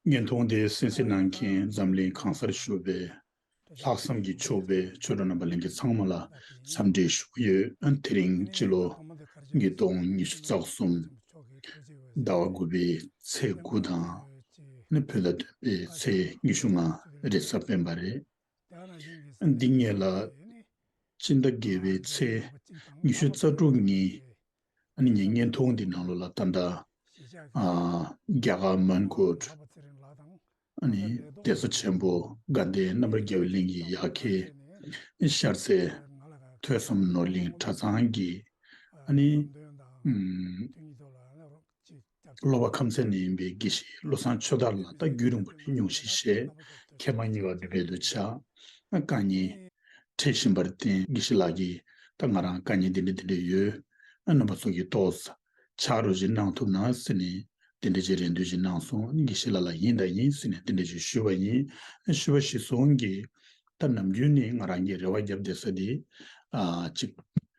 བརྙན་ཐུང་དེ་གསན་གཟིགས་གནང་མཁན་འཛམ་གླིང་གང་སར་བཞུགས་པའི་ལྷག་བསམ་གྱིས་ཕྱུག་པའི་ཆོས་གྲོགས་རྣམ་པ་གླིང་གི་ཚང་མ་ལ་འཚམས་འདྲི་ཞུ་གི་ཡོད། དེ་རིང་སྤྱི་ལོ་ཉིས་སྟོང་ཉི་ཤུ་རྩ་གསུམ་ཟླ་བ་དགུ་པའི་ཚེས་དགུ་དང་ནི་བོད་ཟླ་བདུན་པའི་ཚེས་ཉི་ཤུ་ལྔ་རེས་གཟའ་སྤེན་པ་རེད། འདི་ཉིད་ལ། སྤྱི་ཟླ་དགེ་བའི་ཚེས་ཉི་ཤུ་རྩ་དྲུག་ཉིན། ཉེ་བསྙེན་ཐུང་འདི་ནང་ལོ་ལ་རྟ་མདའ། རྒྱ་གར་མོན་གྷོར། གདན་ས་ཆེན་པོ་དགའ་ལྡན་རྣམ་པར་རྒྱལ་བའི་གླིང་གི་ཡ་གི་ཤར་རྩེ། ཐོས་བསམ་ནོར་གླིང་གྲྭ་ཚང་གི། སློབ་བ་ཁམས་ཚན་ནས་ཡིན་པའི་དགེ་བཤེས་བློ་བཟང་ཆོས་དར་ལགས་རྟ་རྒྱུད་རིང་པོ་ནས་ཉུང་ཞིག་བཤད་མཁས་པ་གཉིས་པ་འདུས་པའི་འདུ་བྱ། བཀའ་རྙིང། འཕྲད་བཞིན་པར་བརྟེན་དགེ་བཤེས་ལགས་ཀྱིས་ད་ང་རང་བཀའ་རྙིང་འདི་འདྲ་འདི་འདྲ་ཡོད། རྣམ་པ་ཚོགས་ཀྱིས་རྟོགས། ཕྱག་རོགས་ཞིག་གནང་ཐུབ་ན་ཟེར་ནས་དེ་འདྲ་ཅིག་རེ་འདུན་ཞིག་གནང་སོང་དགེ་བཤེས་ལགས་ལ་ཡིན་ད་ཡིན་ཟེར་ནས་དེ་འདྲ་ཅིག་ཞུས་པ་ཡིན། ཞུས་པ་ཞིག་སོང་གིས། ད་ནམ་རྒྱུན་ནི་ང་རང་གིས་རེ་བ་བརྒྱབ་བསྡད་ས་དེ། གཅིག།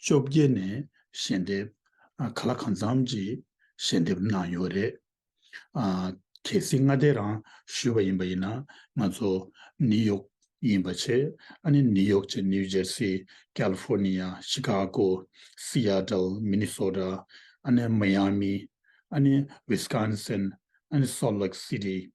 བཅོ་བརྒྱད་ནས་ཞལ་འདེབས་ག་ལ་གང་འཚམ་གྱིས་ཞལ་འདེབས་གནང་ཡོད་རེད། གལ་སྲིད་མངའ་སྡེ་རང་ཞུས་པ་ཡིན་པ་ཡིན་ན་ང་ཚོ་ནིའུ་ཡོག་ཡིན་པ་ཆེ་ཨ་ནི་ནིའུ་ཡོག་ཅེས་ནིའུ་ཇར་སི་ཀལ་ཧྥོར་ནི་ཡ་ཤི་ཀ་གོ་སི་ཡ་ཏལ་མི་ནི་སོ་ར་ཨ་ནི་མི་ཡ་མི་ཨ་ནི་ཝིས་ཀན་སིན་ཨ་ནི་སོལ་ལེག་སི་ཏི་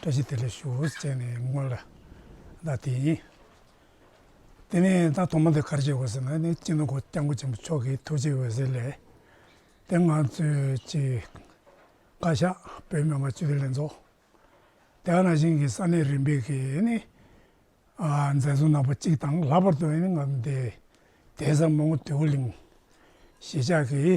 བཀྲ་ཤིས་བདེ་ལེགས་ཞུ་ཨོ་ཅེས་ནས་བསྔོས་ལ། བདག་དེ་ཡིན། དེ་ནས་བདག་དུ་མ་དེ་གར་སྐྱེས་དགོས་ཟེར་ན་ནི་སྤྱིར་ན་སྐུ་སྐྱབས་མགོན་ཆེན་པོ་མཆོག་གི་ཐུགས་རྗེའི་འོད་ཟེར་ལས། དེ་ང་ཚོས་ཀྱི་བཀའ་ཤག་བོད་མི་མང་སྤྱི་འཐུས་ལྷན་ཚོགས། དེ་ཡང་རང་བཞིན་གྱི་ས་གནས་རིམ་པས་ཀྱི་ནི་མཛད་གཙོ་ནག་པོ་གཅིག་དང་ལྷག་པར་དུ་ནི་ང་ཚོ་འདས་ཟབ་མོ་དུས་ཀུན་གླིང་གཞིས་ཆགས་ཀྱི་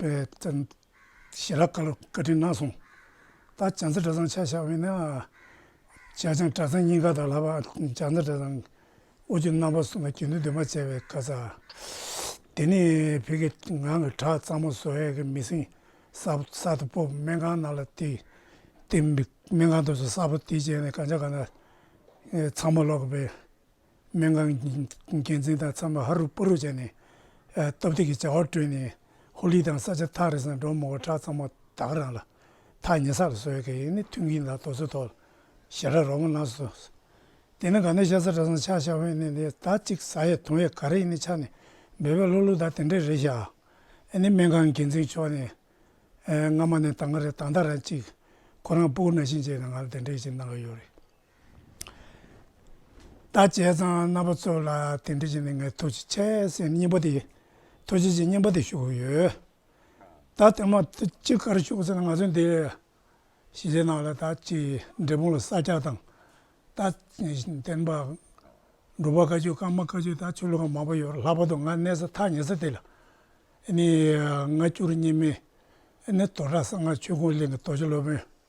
པའི་བཙན། ཞལ་ལག་བཀའ་དྲིན་གནང་སོང། ད་བྱང་རྩེ་གྲྭ་ཚང་ཆ་བཞག་བས་ན། བྱ་བྱང་གྲྭ་ཚང་གཉིས་ཀ་དང་ལྷག་པར་བྱང་རྩེ་གྲྭ་ཚང། ཨོ་རྒྱུ་རྣམ་པ་གསུམ་ལ་དགེ་འདུན་འདུས་མ་བྱས་པའི་བཀའ་སྩལ། དེ་ནས་བོད་ཀྱི་ངང་གིས་བྲག་གཙང་མ་བཟོ་བས་ཀྱི་མི་སྲིང། གསར་དུ་སྤོབས་སྨན་ཁང་གནང་ལ་བཏེགས། སྨན་ཁང་དུ་སོ་གསར་པོ་བཏེགས་རྗེས་ནས་གང་ཆ་གང་ན། ཚང་མ་ལོག་གི་པས། སྨན་ཁང་གི་འགན་འཛིན་དང་འཚམས་པ་ཧ་རུ་པོ་རུ་བྱས་ནས། སྟབས་བདེ་གི་བྱ་བ་སྤྲོད་ནས་ཧོ་ལི་དང་ས་ཆ་ཐག་རེ་ཟིང་འགྲོ་མོ་བ་ཁྲག་གཙང་མ་དག་རང་ལ་ཐག་ཉེ་ས་ལ་བཟོ་བའི་གེགས་ཡིན་ནི་ཐུགས་འགན་དང་དོགས་ཚོད་ཐོག་ཞེ་ར་རོགས་མོ་གནང་སོ། དེ་ནི་ག་ནས་ཤ་ཟ་གྲ་ཟ་ཆག་ཤ་བྷན་ནས་ནས་ད་ཅིག་ཟ་ཡས་དུང་ཡས་ག་རེ་ཡིན་ནི་ཆག་ནས་འབད་པས་ལོ་ལོ་ད་དེ་འདྲས་རེད་ཤག་ཨ་ནི་སྨན་ཁང་གི་འགན་འཛིན་མཆོག་ནས། སྔ་མ་ནས་ད་སྔ་རེ་ད་ད་ར་ཅིག་ཁོ་རང་སྤུ་གུ་ན་ཤིང་བཅད་ནས་ང་ལ་དེ་འདྲས་ཅིག་གནང་གི་ཡོད་རེད། ད་བྱས་ཙང་རྣམ་པ་ཚོ་ལ་དེ་འདྲ་བྱས་ནས་ངས་ཐུགས་རྗེ་ཆེ་ཟེར་སྙིང་པོ་དེ་ཐུགས་རྗེ་ཆེ་སྙིང་པོ་དེ་ཞུ་གི་ཡོད། ད་དེ་མ་ཅི་གར་ཞུགས་ཟེར་ན་ང་ཚོ་འདི་གཞིས་བྱེས་ནང་ལ་ད་ཅི་འབྲས་སྤུངས་ལ་ས་སྐྱ་དང་ད་བསྟན་པ་འགྲོ་པ་དཀའ་སྤྱོད་ཀརྨ་དཀའ་སྤྱོད་ད་ཆོས་ལུགས་ཁག་མང་པོ་ཡོད་ལྷག་པར་དུ་ང་གནས་ས་ཐག་ཉེ་ས་དེ་ལ་ནི་ང་བཅུ་རེ་གཉིས་མའི་ནི་དོ་བྲག་གསང་སྔགས་ཆོས་ཁུངས་གླིང་གི་དོ་ཅོ་སློབ་དཔོན།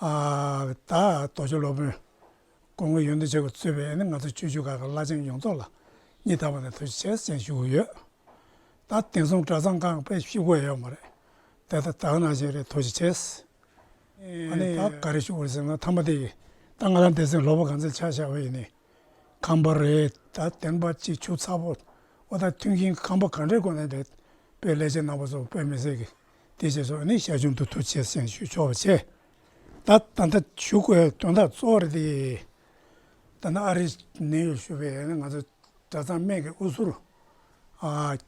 ད་རྡོ་རྗེ་སློབ་དཔོན། དགོངས་ཀྱི་ཡོན་ཏན་བྱེད་དགོས་གཙོས་པའི་ནི་ང་ཚོ་ཆོས་བརྒྱུད་ཁག་གི་བླ་ཆེན་ཡོངས་རྫོགས་ལ་སྙིང་ཐག་པ་ནས་ཐུགས་རྗེ་ཆེ་ཞེས་ཞུ་གི་ཡོད། ད་དེང་སང་གྲྭ་ཚང་ཁག་པའི་ཤི་བོ་ཡང་ཡོད་མ་རེད། དེ་ད་དག་ནང་བཞིན་རེད་ཐུགས་རྗེ་ཆེ། ད་ག་རེ་ཞུ་དགོས་ཟེར་ན་མཐའ་མ་དེ་ད་ང་རང་འདས་ཟིན་ལོ་པོ་གང་ཚེ་ཆགས་བཞག་པ་ཡིན་ནི་ཁང་པ་རེད། ད་དེང་པ་གཅིག་ཆུ་ཚ་པོ་འོ་ད་མཐུན་རྐྱེན་ཁང་པ་གང་འདྲའི་སྒོ་ནས་འདོད་པའི་ལས་བྱེད་ནང་པ་ཚོ་དཔེ་མི་སྲིད་ཀྱི། དེ་བཞིན་སོགས་ནི་ཞར་བྱུང་དུ་ཐུགས་ཆེ་སེམས་ཞུ་ཆོག་པར་བྱས། ད་ལྟ་འདི་ཞུ་དགོས་པའི་དོན་དག་གཙོ་བོ་རེད་དེ། ད་ནི་ཨ་རིས་ནེའུ་ཡོག་ཞུ་བའི་ནི་ང་ཚོ་གྲྭ་ཚང་སྨད་ཀྱི་ཨུ་ཚུར།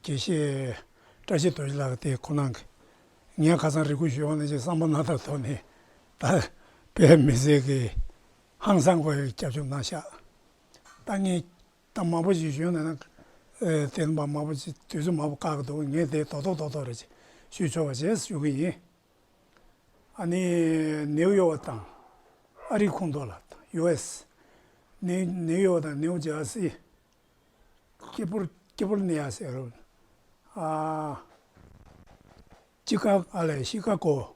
དགེ་བཤེས་བཀྲ་ཤིས་རྡོ་རྗེ་ལགས་དེ་ཁོ་ན་གི་ངས་ཁ་སང་རེ་སྐུལ་ཞུས་བ་ནི་ཅིག་བསམ་བློ་སྣ་ཐག་ཐོག་ནས་ད་བལ་མི་སེར་གྱི་ཧང་སང་གོ་ཡི་སྐྱབས་བཅོལ་གནང་ཤག་ད་ངས་ད་མ་པོ་ཞིག་བྱོན་ན་ནི། དེ་ནི་མ་པོ་ཞིག་དུས་སུ་མ་པོ་བཀག་གི་འདུག་ངས་དེ་རྡོག་རྡོག་རྡོག་རྡོག་རེད་ཅེས་ཞུས་ཆོག་པ་བྱས་ཞུ་གི་ཡིན། ཨ་ནི་ནེའུ་ཡོག་བ་དང། ཨ་རིའི་ཁོངས་གཏོགས་ལ་དང US། ནེའུ་ནེའུ་ཡོག་དང་ནེའུ་ཇར་སི། ཀེ་པུར་ཀེ་པུར་ནེ་ཡ་སེ་རོ། ཨ། ཅི་ཀ་ཨ་ལེ་ཤི་ཀ་ཀོ།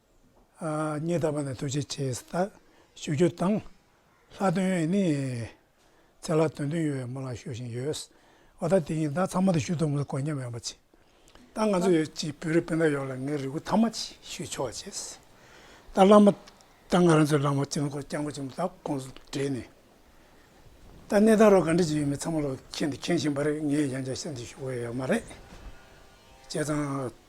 ཉིད་དམ་པ་ནི་ཐུགས་རྗེ་ཆེ་སྟ། ཞུ་རྒྱུ་དང། ལྷ་སྟོན་ནི། ཚེ་ལ་དོན་མཐུན་ཡོད་པའི་མོ་ལ་ཞུ་བཞིན་ཡོད། བ་ད་དེ་ཡིན་ད་ཚང་མ་དུ་ཞུ་ཐུབ་མི་ཐུབ་དཀོན་མཉམ་ཡོང་པ་བྱེད། ད་ང་ཚོ་ཡོད་ཀྱི་བོད་རིགས་སྤུན་ཟླ་ཡོངས་ལ་ངའི་རེ་སྒུག་ཐ་མ་ཅིག་ཞུས་ཆོག་བ་བྱེད། ད་བླ་མ། ད་ང་རང་ཚོའི་བླ་མ་སྤྱི་ལོ་འཁོར་སྐྱབས་མགོན་ཆེན་མོ་ད་ཁོང་ཚོ་བྲིས་ནས། ད་གནས་སྟངས་རོ་ག་འདྲི་ཅིག་ཡོད་མེད་ཚང་མ་ལོ་ཁྱེད་འདི་མཁྱེན་བཞིན་པ་རེད་ངས་ཡང་བསྐྱར་གསལ་འདེབས་ཞུ་དགོས་ཡོད་མ་རེད། བྱས་ཙང།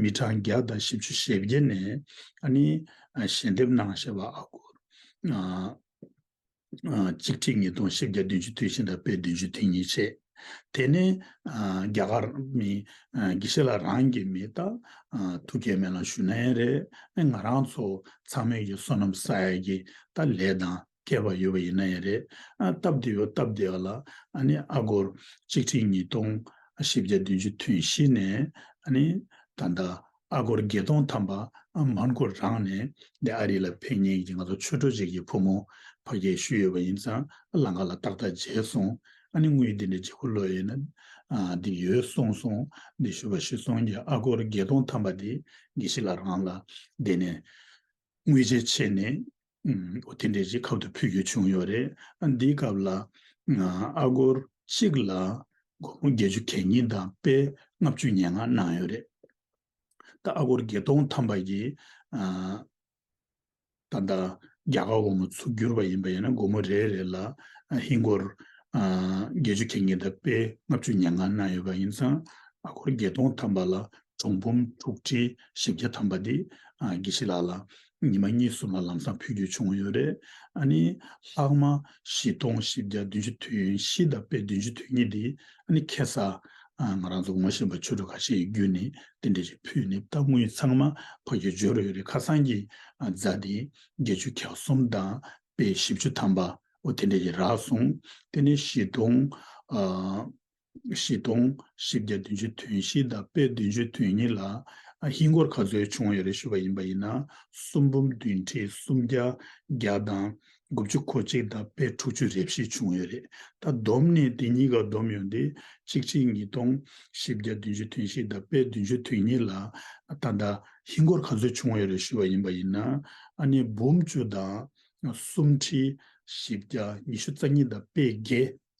མི་གྲངས་བརྒྱ་དང་བཞི་བཅུ་ཞེ་བརྒྱད་ནས་ཨ་ནི་ཞལ་འདེབས་གནང་ཞེས་པ་ཨ་སྒོར་གཅིག་ཁྲི་ཉིས་སྟོང་བཞི་བརྒྱ་བདུན་ཅུ་དུས་ཆེན་དང་དཔེ་བདུན་ཅུ་དུས་གཉིས་བྱས། དེ་ནས་རྒྱ་གར་མི་དགེ་བཤེས་ལ་རང་གི་མི་རྟ་ཐུགས་མཁས་མེད་ལ་ཞུ་ན་ཡང་རེད་ང་རང་ཚོ་ཚང་མས་ཀྱི་བསོད་ནམས་ས་ཡ་གི་རྟ་ལས་དང་སྐྱེས་པ་ཡོད་པ་ཡིན་ན་ཡང་རེད། སྟབས་བདེ་བའི་སྟབས་བདེ་བ་ལ་ཨ་སྒོར་གཅིག་ཁྲི་ཉིས་སྟོང་བཞི་བརྒྱ་བདུན་ཅུ་ཐོན་གཞི་ནས་ད་ལྟ་ཨ་སྒོར་བརྒྱད་སྟོང་ཐམ་པ་མར་མགོ་རང་ནས་འདི་ཨ་རི་ལ་ཕེབས་ཉེན་གྱི་ང་ཚོ་ཆོས་གྲོགས་གཅིག་གི་བུ་མོ་ཕ་རྒྱལ་ཞུས་ཡོད་པ་ཡིན་ཙང་ལང་ཀ་ལ་ཏག་ཏག་མཇལ་སོང་དངུལ་འདི་འདྲའི་བརྗེ་པོ་ལོས་ཡོད་ན་འདི་ཡོད་གསུངས་སོང་འདི་ཞུ་བ་ཤི་སོང་གི་ཨ་སྒོར་བརྒྱད་སྟོང་ཐམ་པ་འདི་དགེ་བཤེས་ལ་རང་ལ་བསྡད་ནས་དངུལ་ཇེ་ཆེ་ནས་ཨོ་དེ་འདྲའི་རིགས་ཁབ་ཏུ་ཕུལ་རྒྱུ་བྱུང་ཡོད་རེད། འདིའི་སྐབས་ལ། ཨ་སྒོར་གཅིག་ལ་སྒོར་མོ་བརྒྱད་ཅུ་གྱ་གཉིས་དང་དཔེ་ལྔ་བཅུ་སྙན་ངག་གནང་ཡོད་རེད། ད་ཨ་སྒོར་བརྒྱད་སྟོང་ཐམ་པ་ཡིས། ད་ལྟ་རྒྱ་གར་བ་མོ་ཚུར་བསྒྱུར་བ་ཡིན་པ་ཡིན་ན་སྒོར་མོ་རེ་རེ་ལ་ཧིན་སྒོར་བརྒྱད་ཅུ་གྱ་གཉིས་དང་དཔེ་ལྔ་བཅུ་སྙན་ངག་གནང་ཡོད་པ་ཡིན་ཙང་ཨ་སྒོར་བརྒྱད་སྟོང་ཐམ་པ་ལ་གྲོང་འབུམ་དྲུག་ཁྲི་བཞི་བརྒྱ་ཐམ་པ་འདི་དགེ་བཤེས་ལགས་ལ་ཉི་མ་གཉིས་གསུམ་ལ་ལམ་སང་ཕུལ་རྒྱུ་བྱུང་ཡོད་རེད། ཨ་ནི་ལྷག་མ་བཞི་སྟོང་བཞི་བརྒྱ་བདུན་ཅུ་དུས་ཡུན་བཞི་ལྡབ་པའི་བདུན་ཅུ་དུས་གཉིས་འདི་ཨ་ནི་ཁེ་ས་ང་རང་ཚོ་ངོ་ཤེས་པ་ཆོས་གྲོགས་ཁ་ཤས་ཡི་བརྒྱུད་ནས་དེ་འདྲ་ཞིག་ཕུལ་ནས་བཏང་དངུལ་ཚང་མ་ཕ་རྒྱུ་འབྱོར་ཡོད་རེད་ཁ་སང་གི་རྫ་དེ་བརྒྱད་ཅུ་གྱ་གསུམ་དང་དཔེ་བཞི་བཅུ་ཐམ་པའོ་དེ་འདྲ་ཞིག་རག་སོང་དེ་ནས་བཞི་སྟོང། བཞི་སྟོང་བཞི་བརྒྱ་བདུན་ཅུ་དོན་བཞི་དང་དཔེ་བདུན་ཅུ་དོན་གཉིས་ལ། ཧིན་སྒོར་ག་ཚོད་བྱུང་བ་ཡོད་རེད་ཞུས་པ་ཡིན་པ་ཡིན་ན། སུམ་འབུམ་བདུན་ཁྲི་སུམ་བརྒྱ་བརྒྱ་དང་དགུ་བཅུ་གོ་གཅིག་དང་དཔེ་དྲུག་ཅུ་རེ་བཞི་བྱུང་ཡོད་རེད། ད་བསྡོམས་ནས་དེ་གཉིས་ཀ་བསྡོམས་ཡོང་དུས་གཅིག་ཁྲི་ཉིས་སྟོང་བཞི་བརྒྱ་བདུན་ཅུ་དོན་བཞི་དང་དཔེ་བདུན་ཅུ་དོན་གཉིས་ལ། ད་ལྟ་ཧིན་སྒོར་ག་ཚོད་བྱུང་བ་ཡོད་རེད་ཞུས་པ་ཡིན་པ་ཡིན་ན། ཨ་ནི་འབུམ་བཅུ་དང་སུམ་ཁྲི་བཞི་བརྒྱ་ཉི་ཤུ་རྩ་གཉིས་དང་དཔེ་བརྒྱད་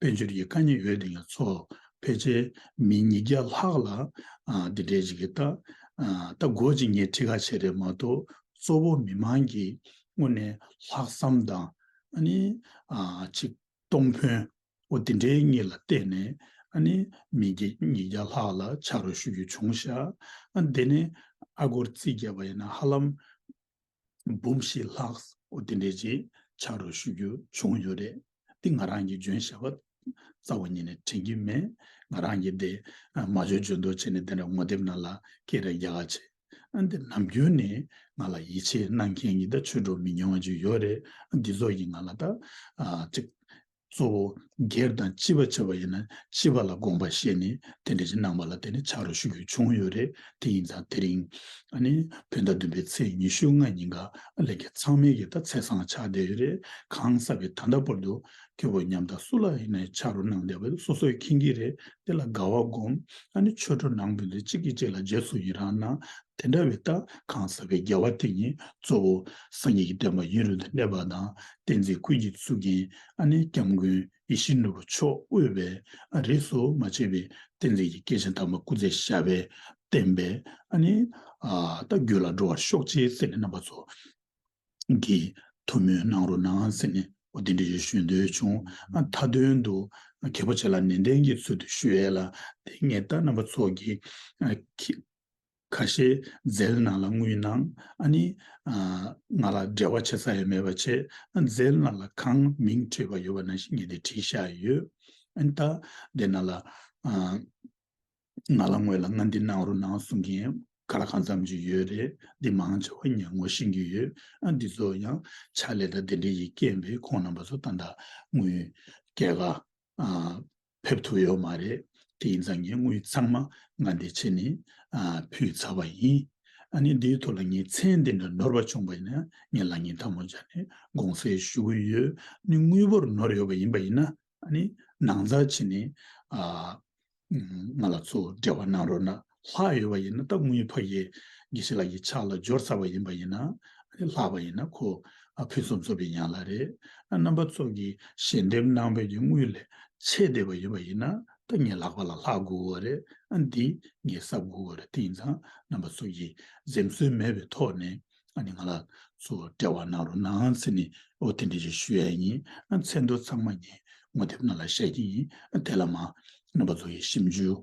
དཔལ་འབྱོར་གྱི་དཀའ་རྙེད་ཡོད་དེ་ལ་ཚོ་ཕལ་ཆེར་མི་ཉིས་བརྒྱ་ལྷག་ལ་འདི་འདྲའི་ཇི་གི་ཏག་ཏག་འགོ་ཇི་སྙེད་ཁྲི་ཁ་བྱས་རེད་མ་གཏོགས་གཙོ་བོ་མི་དམངས་ཀྱི་སྔུན་ནས་ལྷག་བསམ་དང་ཨ་ནི་ཆིག་སྟོང་ཕོན་བོ་འདི་འདྲའི་གཉིས་ལ་བརྟེན་ནས་ཨ་ནི་མི་ཉིས་བརྒྱ་ལྷག་ལ་ཕྱག་རོགས་ཞུ་རྒྱུ་བྱུང་ཤག་འདི་ནི་ཨ་སྒོར་རྩིས་བརྒྱབ་པ་ཡིན་ན་ཧ་ལམ། འབུམ་བཞི་ལྷག་འོ་དེ་འདྲའི་ཆེད་ཕྱག་རོགས་ཞུ་རྒྱུ་བྱུང་ཡོད་རེད། འདི་ང་རང་གིས་འཇོན་ཞེས་པ་རྩ་བ་ཉིད་ནས་དྲན་གྱི་མེད། ང་རང་གིས་འདི་མ་འཇོན་འཇོན་འདོག་བྱས་ནས་དེ་འདྲ་ངོ་དེབ་ནང་ལ་སྐད་རེ་རྒྱག་ཨ་བྱས། འདི་ནམ་རྒྱུན་ནས་ང་ལ་ཡིད་ཆེས་གནང་མཁན་གྱི་ད་ཆོས་གྲོགས་མི་ཉུང་བ་ཅིག་ཡོད་རེད། འདི་ཚོ་ཡིས་ང་ལ་ད་ཅིག་གཙོ་བོ་སྒེར་དང་སྤྱི་བ་བྱ་བ་ཡིན་ན་སྤྱི་བ་ལ་དགོངས་པ་བཞེས་ནས་དེ་འབྲེལ་གྱི་གནང་བ་ལ་བརྟེན་ནས་ཕྱག་རོགས་ཞུ་རྒྱུ་བྱུང་ཡོད་རེད་དེ་ཡིན་ཙང་དེ་རིང་ནི་བོད་ཟླ་བདུན་པའི་ཚེས་ཉི་ཤུ་ལྔ་ཉིན་ག་ལེར་གྱི་ཚང་མའི་གི་ད་ཚེས་བཟང་ཆགས་བསྡད་ཡོད་རེད་གང་ཟག་གི་ད་ལྟ་བར་དུ་ཁྱོད་བོ་ཉམས་ད་སུ་ལ་ཡིན་ནའི་ཕྱག་རོགས་གནང་བསྡད་པ་སོ་སོའི་མཁྱེན་གྱི་རེད་དེ་ལ་དགའ་བ་སྒོམ་ཨ་ནི་ཆོས་གྲོགས་ནང་བོད་འདི་གཅིག་གིས་གཅིག་ལ་རྗེས་སུ་ཡི་རང་གནང་དེ་འདྲ་བའི་རྟགས་གང་ཟག་གི་རྒྱལ་བ་དེ་ཉིད་གཙོ་བོ་སངས་རྒྱས་ཀྱི་བསྟན་པ་ཡུན་རིང་དུ་གནས་པ་དང་བསྟན་འཛིན་ཀུན་གྱི་གཙུག་རྒྱན་ཨ་ནེ་སྐྱབས་མགོན་ཡེ་ཤེས་ནོར་བུ་མཆོག་དབུས་པས་ཨ་རིག་སོ་མ་ཆེ་བའི་བསྟན་འཛིན་གྱི་སྐྱེས་ཆེན་དམ་པ་སྐུ་ཚེ་ཞབས་པད་བརྟན་པས་ཨ་ནེ། རྟ་རྒྱུད་ལ་འགྲོ་བར་ཤོག་ཅེས་ཟེར་ནས་རྣམ་པ་ཚོ་གིས་ཐུགས་མོས་གནང་རོགས་གནང་ཟེར་ནས་འོ་དེ་འདྲ་ཞིག་ཞུ་འདོད་བྱུང། མཐའ་དོན་དུ་གལ་པོ་ཆེ་ལ་ནན་ཏན་གྱི་ཚུལ་དུ་ཞུ་ཨེ་ལ་དེ་ངེད་རྟ་རྣམ་པ་ཚོ་གིས་ཁ་ཤས་རྫའི་ནང་ལ་ངུས་ན་ཨ་ནི། ང་ལ་འབྲེལ་བ་བྱེད་ས་ཡོད་མེད་པ་ཆེ། རྫའི་ནང་ལ་གང་མིང་འཁྲུལ་བ་ཡོད་པ་ནང་བཞིན་ངས་དེ་བྲིས་བཞག་ཡོད། ཨན་ད། དེ་ནང་ལ། ང་ལ་དངོས་ལ་ང་འདི་ནང་རུ་ནང་གསུང་མཁན་ག་ར་གང་འཚམས་ཅིག་ཡོད་རེད་འདི་མང་ཆེ་བ་ངས་ངོ་ཤེས་ཀྱི་ཡོད། ཨ་འདི་ཚོ་ཡང་ཕྱག་ལས་དང་དེ་འདྲའི་ཡིག་སྐད་འབེལ་ཁོང་རྣམ་པ་ཚོ་ད་ད་ངུས། སྐད་ག། ཕེབས་ཐུབ་ཡོད་མ་རེད། དེ་ཡིན་ཙང་ངས་དངུལ་ཚང་མ་ང་འདི་ཕྱི་ནས་ཕུལ་ཚར་བ་ཡིན། ཨ་ནི་འདིའི་ཐོག་ལ་ངས་མཚན་འདི་འདྲ་ནོར་བ་བྱུང་བ་ཡིན་ན་ངས་ལག་གཉིས་མཐའ་མོ་སྦྱར་ནས་དགོངས་སེལ་ཞུ་གི་ཡོད། ནི་དངུལ་བོར་ནོར་ཡོད་པ་ཡིན་པ་ཡིན་ན་ནི་ནང་རྩ་ཕྱི་ནས་ང་ལ་ཚུར་འབྲེལ་བ་གནང་རོགས་གནང། ལྷག་ཡོད་པ་ཡིན་ན་སྟབས་དངོས་ཕ་ཡིས་དགེ་ཤེས་ལ་ཡི་ཆགས་ལ་སྦྱོར་ཚར་བ་ཡིན་པ་ཡིན་ན། ལྷག་པ་ཡིན་ན་ཁོ་ཕུན་སུམ་ཚོགས་པའི་ཡན་ལག་རེད། རྣམ་པ་ཚོགས་ཀྱི་ཞལ་འདེབས་གནང་བས་ཀྱི་དངུལ་ལས་ཆེས་བདེ་བ་ཡོད་པ་ཡིན་ན་ད་ངས་ལག་པ་ལ་ལྷག་དགོས་བ་རེད་འདི་ངས་གསབ་དགོས་བ་རེད་དེ་ཡིན་ཙང་རྣམ་པ་ཚོགས་ཀྱིས་འཛེམ་ཟོན་མེད་པའི་ཐོག་ནས་ཨ་ནི་ང་ལ་ཚོ་དཔྲལ་བ་གནང་རོགས་གནང་ཚེ་ནི་ཨོ་དེ་འདྲས་ཞིག་ཞུ་ཡ་ཡིན་ཚེ་མདོ་ཚང་མ་ངས་ངོ་དེབ་ནང་ལ་བཤད་ཀྱི་ཡིན་དེ་ལ་མ་རྣམ་པ་ཚོ་ཡི་ཞིབ་འཇུག།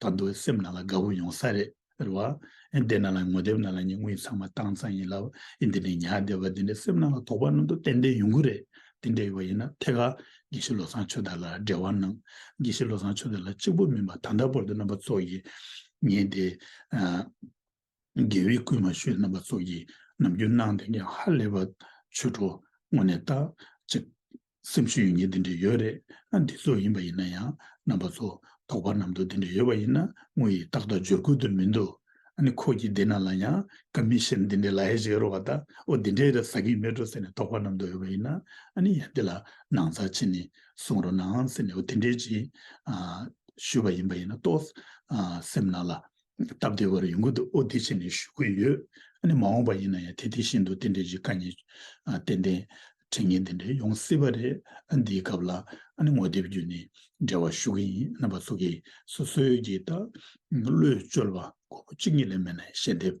ད་འདུག་བའི་སེམས་ནང་ལ་དགའ་བོ་ཡོང་ས་རེད་རེད་བ། ཨེ་འདི་ནང་ལ་ངོ་དེབ་ནང་ལ་ཉིན་གུང་ཡིན་ཚང་མ་བཏང་ཚང་ཡིན་ལབ་ཨེ་འདི་ནས་ཉལ་བསྡད་པ་འདི་འདྲའི་སེམས་ནང་ལ་དོགས་པ་ནང་དུ་ཏན་ཏན་ཡོང་གི་རེད་དེ་འདྲ་ཡོད་པ་ཡིན་ན་ཐད་ཀར་དགེ་བཤེས་བློ་བཟང་ཆོས་དར་ལ་འབྲེལ་བ་གནང། དགེ་བཤེས་བློ་བཟང་ཆོས་དར་ལ་གཅིག་པུ་མིན་པར་ད་ལྟ་བར་དུ་རྣམ་པ་ཚོགས་ཀྱིས་ངེད་དེ། དགེ་བའི་བསྐུལ་མ་ཞུས་རྣམ་པ་ཚོགས་ཀྱིས་ནམ་རྒྱུན་གནང་དོན་ཀྱང་ཧ་ལས་པ། ཆོས་གྲོགས་དངོས་ནས་བརྟག་ཅིག། སེམས་ཤུགས་ཡོད་ཉིད་འདི་འདྲས་ཡོད་རེད་ན་འདི་ཚོ་ཡིན་པ་ཡིན་ན་ཡང་རྣམ་པ་ཚོ་དོགས་པ་ནམ་འདུག་འདི་འདྲས་ཡོད་པ་ཡིན་ན་དངོས་ཡིན་ཏག་ཏག་འབྱོར་ཁུལ་དུ་མི་འདུག་ཨ་ནི་ཁོ་གྱིས་འདི་ན་ལ་ཡང་ཀ་མི་ཤེས་ན་འདི་འདྲས་ལ་ཧེ་ཞིག་རོ་བ་ད་ཨོ་འདི་འདྲས་ཟ་གིན་མེད་འགྲོ་ཟེར་ནས་དོགས་པ་ནམ་འདུག་ཡོད་པ་ཡིན་ན་ཨ་ནི་ཡང་འདི་ལ་ནང་ཚགས་ཕྱི་ནས་གསུང་རོགས་གནང་ཟེར་ནས་ཨོ་དེ་འདྲས་ཀྱིས་ཞུས་པ་ཡིན་པ་ཡིན་ན་ཏོག་སེམས་ན་ལ་སྟབས་བདེ་བར་ཡོང་གི་འདུག་ཨོ་དེ་བྱས་ནས་ཞུ་གི་ཡོད། ཨ་ནི་མ་འོངས་པ་ཡིན་ན་ཡང་དེ་དེ་བཞིན་དུ་དེ་འདྲའི་གཞི་བཀའ་ཉན། ཏན་ཏན། དྲི་ངན་དེ་འདྲ་ཡོང་སྲིད་པ་རེད། ཨ་འདིའི་སྐབས་ལ་ཨ་ནི་ངོ་དེབ་བརྒྱུད་ནས་འབྲེལ་བ་ཞུ་གི་ཡིན། རྣམ་པ་ཚོ་གིས་སོ་སོའི་གྱི་ད། བློས་བཅོལ་བ་ཁོ་བོ་གཅིག་གཉིས་ལས་མེད་ན་ཞལ་འདེབས།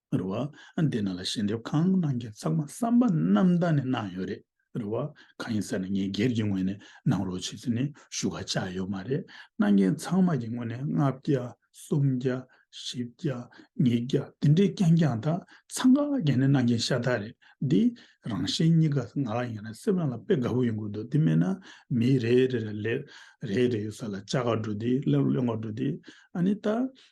རེད་བ། འདི་ནང་ལ་ཞལ་འདེབས་གང་གནང་རྒྱུ་ཚང་མ་བསམ་པ་རྣམ་དག་ནས་གནང་ཡོད་རེད་རེད་བ། གང་ཡིན་ཟེར་ན་ངས་སྒེར་གྱི་ངོས་ནས་གནང་རོགས་བྱེད་ཚུལ་ནི་ཞུ་ཁ་བཅག་ཡོད་མ་རེད། གནང་མཁན་ཚང་མ་གྱི་ངོས་ནས་ལྔ་བརྒྱ། སུམ་བརྒྱ། བཞི་བརྒྱ། ཉིས་བརྒྱ་དེ་འདྲའི་རྐྱང་རྐྱང་དག་ཚང་ཁ་གྱེས་ནས་གནང་མཁན་ཤ་སྟག་རེད། འདི་རང་བཞིན་གཉིས་ཀ་ང་ལ་ཡིན་ན་སེམས་རང་ལ་དཔེ་དགའ་བོ་ཡོང་གི་འདུག་འདི་མེད་ན་མི་རེ་རེ་ལ་ལས་རེ་རེ་ཡོད་ས་ལ་བཅའ་ག་འགྲོ་དེ་སླེབས་སླེབས་ག་འགྲོ་དེ། ཨ་ནི་ད་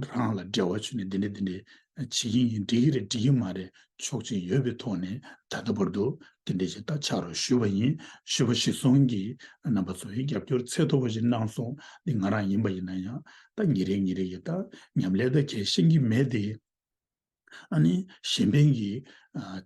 རང་ལ་འབྲེལ་བ་བྱུང་ནས་འདི་འདྲ་འདི་འདྲ་བྱེད་ཀྱིན་ཡིན་འགྲིག་གི་རེད་འགྲིག་གི་མ་རེད་ཆོག་ཅིག་ཡོད་པའི་ཐོག་ནས་ད་ལྟ་བར་དུ་འདི་འདྲ་ཞིག་ད་ཆགས་རོགས་ཞུས་པ་ཡིན་ཞུས་པ་ཞིག་སོང་གི་རྣམ་པ་ཚོ་ཡིས་རྒྱབ་སྐྱོར་ཚད་མཐོ་བོ་ཞིག་གནང་སོང་འདི་ང་རང་ཡིན་པ་ཡིན་ན་ཡང་ད་ཉིན་རེ་ཉིན་རེ་ཡི་ད་ཉམས་ལས་ད་གལ་ཤེས་ཀྱི་མེད་དེ། ཨ་ནི་གཞན་ཕན་གྱིས་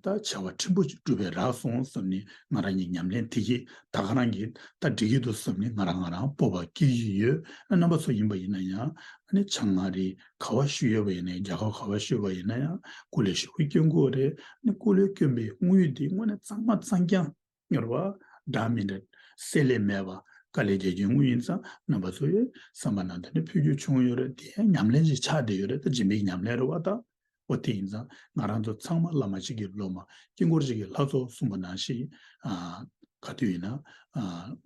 ད་བྱ་བ་ཕྲན་བུ་ཅིག་བསྒྲུབས་པས་རག་སོང་བསམ་ནས་ང་རང་གིས་ཉམས་ལེན་དེ་གྱིས་ད་ག་རང་གིས་ད་འགྲིག་གི་འདུག་བསམ་ནས་ང་རང་ང་རང་སྤོབས་པ་སྐྱེ་བཞིན་ཡོད་རྣམ་པ་ཚོ་ཡིན་པ་ཡིན་ན་ཡང་ཨ་ནི་ཆང་ང་རིས་ག་བ་ཤུ་ཡོད་པ་ཡིན་ན་ཡང་རྒྱ་ཁབ་ག་བ་ཤུ་བ་ཡིན་ན་ཡང་ཀུ་ལེ་ཤུ་བོའི་སྐྱོན་གོ་རེད་ཨ་ནི་ཀུ་ལེ་སྐྱོན་པའི་དངུལ་དེ་དངོས་ནས་གཙང་མ་གཙང་རྐྱང། སྙོར་བ། སྒྲ་མི་འདྲ། གསལ་ལེ་མེད་པ། དཀའ་ལས་རྒྱལ་ཁྱོད་དངོས་ཡིན་ཙང་རྣམ་པ་ཚོ་ཡོད་བསམ་པ་ནང་དོན་ནི་འཕོ་འགྱུར་བྱུང་ཡོད་རེད་དེ་ཉམས་ལེན་གྱི་ཆ་དེ་ཡོད་རེད་ད་རྗེ་འབིག་ཉམས་ལེན་རེད་བ་ད། འོ་དེ་ཡིན་ཙང་ང་རང་ཚོ་ཚང་མ་བླ་མ་གཅིག་གི་སློབ་མ་དཀྱིལ་འཁོར་གཅིག་གི་ལྷ་ཚོགས་གསུངས་པ་ནང་ཞིག་ག་དུས་ཡིན་ན་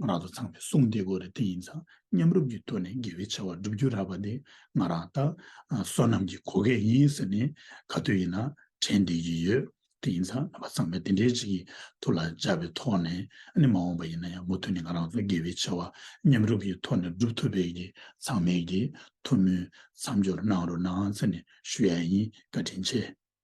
ང་རང་ཚོ་ཚང་མའི་གསུང་དེ་གོ་རེད་དེ་ཡིན་ཙང་མཉམ་རུབ་ཀྱི་ཐོག་ནས་དགེ་བའི་བྱ་བ་བསྒྲུབ་རྒྱུ་རག་པ་དེ་ང་རང་ད་བསོད་ནམས་ཀྱི་གོ་སྐལ་ཡིན་ཟེར་ནས་ག་དུས་ཡིན་ན་དྲན་བསྡད་ཀྱི་ཡོད་དེ་ཡིན་ཙང་རྣམ་པ་ཚང་མས་དེ་འདྲའི་རིགས་ཀྱི་ཐུགས་ལ་འཇགས་པའི་ཐོག་ནས་ནི་མ་འོངས་པ་ཡིན་ན་ཡང་མུ་མཐུད་ནས་ང་རང་ཚོ་དགེ་བའི་ཆེ་བ་མཉམ་རུབ་ཀྱི་ཐོག་ནས་སྒྲུབ་ཐུབ་པའི་གི་ཚང་མས་གི་ཐུགས་སྨོན་མཚམས་སྦྱོར་གནང་རོགས་གནང་ཚེ་ནས་ཞུ་ཡ་ཡིན་བཀའ་དྲིན་ཆེ།